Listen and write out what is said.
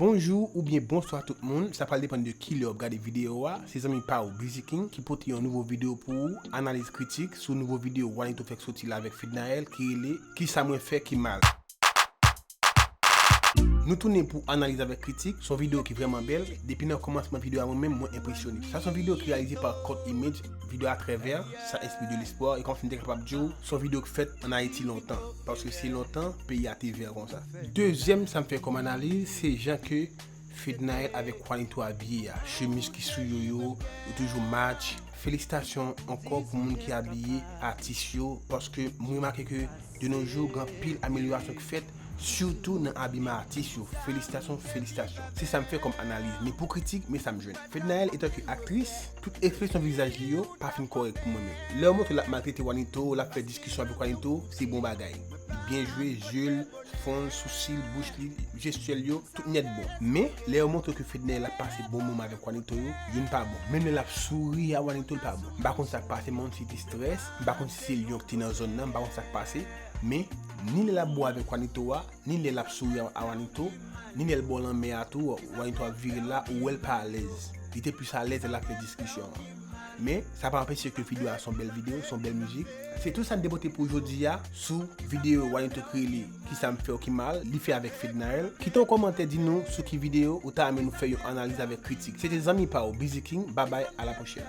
Bonjou oubyen bonswa tout moun, sa pral depann de kilè wap gade video a, se zanmi pa ou Biziking ki pote yon nouvo video pou ou, analiz kritik sou nouvo video Wanito fèk soti la avèk Fednaelle ki rele Kisa mwen fè ki mal. Nou tounen pou analiz avèk kritik, son video ki vrèman bèl, depi nan kòmansman video a mwen menm mwen enpresyone. Sa son video ki reyalize pa Cult Image, video a trè vè, sa enspire de l'espoir e kòmsi m te kapab di w son video k fèt an Ayiti lontan, paske se lontan peyi a te vè konsa. Dezyèm sa m fè kòm analiz se jan ke Fednaelle avèk Juanito abiye a, chemiz ki sou yo yo, yo toujou match, felisitasyon ankò pou moun ki abiye atis yo paske m remake ke de no jou gen anpil amelyorasyon ki fèt sitou nan abiman atis yo, felisitasyon felisitasyon. Se sa m fè kòm analiz men pou kritik men sa m jwenn. Fednaelle etanke aktris, tout ekspresyon vizaj li yo pa fin kòrèk pou mwen menm. Lè yo montre l ap maltrete Juanito, l ap fè diskisyon avèk Juanito se bon bagay. byen jwe zye l, fwon l, sousi l, bouch li, jestyè l yo, tout nèt bon. Men, lè yo montre ke Fednèyèl ap pase bon moman avèk Wanito yo, youn pa bon. Menm lè l ap souri a Wanito l pa bon. M pa konn sa k pase men on ti distrès, m pa konn si se lyon ki te nan zòn nan, m pa konn sa k pase, men, ni lè l ap bo avèk Wanito a, ni lè l ap souri a Wanito, ni lè l bò lanmè a tou, Wanito ap vire l la, ou wè l pa alèz. Li te plis alèz lè l ap fè diskisyon an. Men, sa pa anpeche ke video a son bèl video, son bèl mizik. Se tout sa n te pote pou jodi a sou video Wanito Kreyli Ki sa m fè w ki mal li fè avèk Fednaelle. Kite yon kòmantè di nou sou ki video ou ta renmen nou fè yon analiz avèk kritik. Se te zanmi pa w Biziking, babay, a la pwochèn.